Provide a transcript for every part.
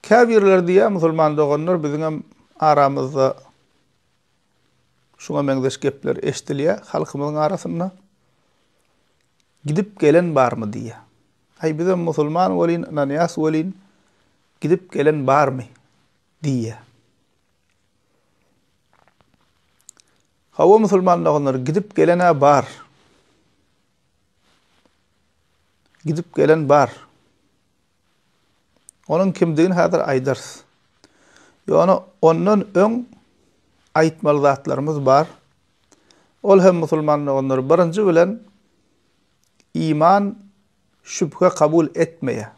Käbirleri diýýär, musulman doganlar, biziňem aramyzda şuňa meňzeş gepler eşidilýär, halkymyzyň arasynda gidip gelen barmy diýýär. Aý, bizem musulman welin, ynanýas welin, gidip gelen barmy? diýýär. Hawa, musulman doganlar, gidip gelen-ä bar. Gidip gelen bar. Onuň kimdigini häzir aýdarys. Ýöne ondan öň aýtmaly zatlarymyz bar. Ol hem musulman doganlar birinji bilen iman şübhe kabul etmeýär.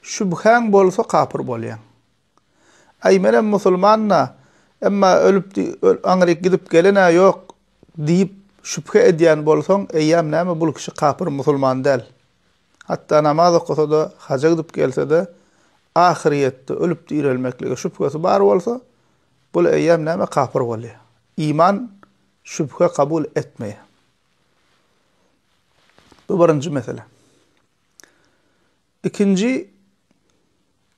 Şübhäň bolsa kapyr bolýaň. Aý menem musulman-da, emma ölüpdi, aňryk gidip gelen-ä ýok diýip şübhe edýän bolsaň, eýýäm näme bul kişi kapyr musulman däl. Hatda namaz okasa-da, haja gidip gelse-de, ahyrýetde ölüp direlmeklige şübhesi bar bolsa, bul eýýäm näme kapyr bolýar. Iman şübhe kabul etmeýär. Bu birinji mesele. Ikinji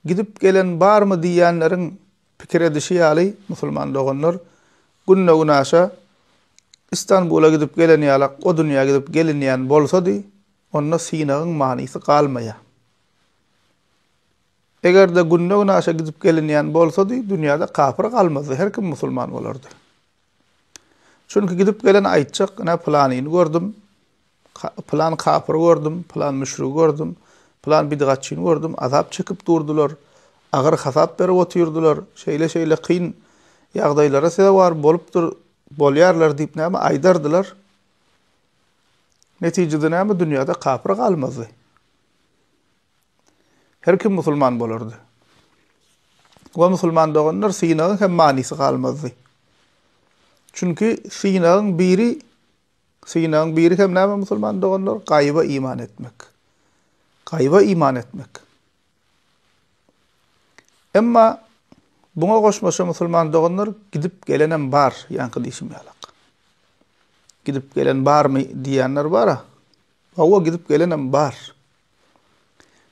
gidip gelen barmy diýýänleriň pikir edişi ýaly, musulman doganlar, günde-günaşa Istanbula gidip gelen ýalak o dünýä gidip gelinýän bolsady, onda synagyň manysy galmaýar. Eger-de günde-günaşa gidip gelinýän bolsady, dünýäde kapyr galmazdy, her kim musulman bolardy. Çünki gidip gelen aýtjak, ine, pylanyny gördüm, Pylan kapyry gördüm, pylan müşrigi gördüm, pylan bidgatçyny gördüm, azap çekip durdular, agyr hasap berip otyrdylar, şeýle-şeýle kyn ýagdaýlara sezewar bolupdyr, bolýarlar diýip näme aýdardylar. Netijede näme dünýäde kapyr galmazdy. Her kim musulman bolardy. Wa musulman doganlar synagyň hem manysy galmazdy. Çünki synagyň biri Synagyň biri hem näme musulman doganlar? Gaýyba iman etmek. Gaýyba iman etmek. Emma buňa goşmaça musulman doganlar gidip gelenem bar, ýaňky diýşim ýalak. Gidip gelen barmy diýýänler bara. Hawa gidip gelenem bar.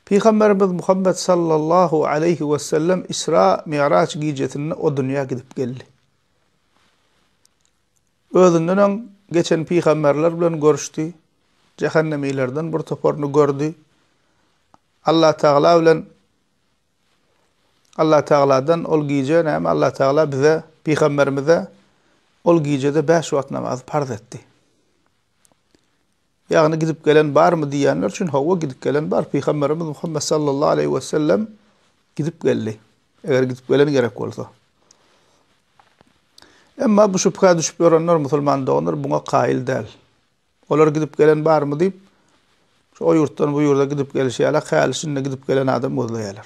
Pygamberimiz Muhammed sallallahu aleyhi ve sellem İsra Mi'raç gijesinde o dünya gidip geldi. Özünden öň geçen pygamberler bilen görüşdi, jähennemilerden bir toparyny gördi. Allatagala bilen Allatagaladan ol gije näme Allatagala bize pygamberimize ol gijede bäş wagt namaz parz etdi. Ýagny gidip gelen barmy diýýänler üçin hawa gidip gelen bar, Pygamberimiz Muhammet sallallahu aleýhi we sellem gidip geldi. Eger gidip gelen gerek bolsa. Emma bu şübhä düşüp ýörenler musulman doganlar buňa kaýyl däl. Olar gidip gelen barmy diýip şu o ýurtdan bu ýurda gidip gelişi ýaly häli şinde gidip gelen adam gözleýärler.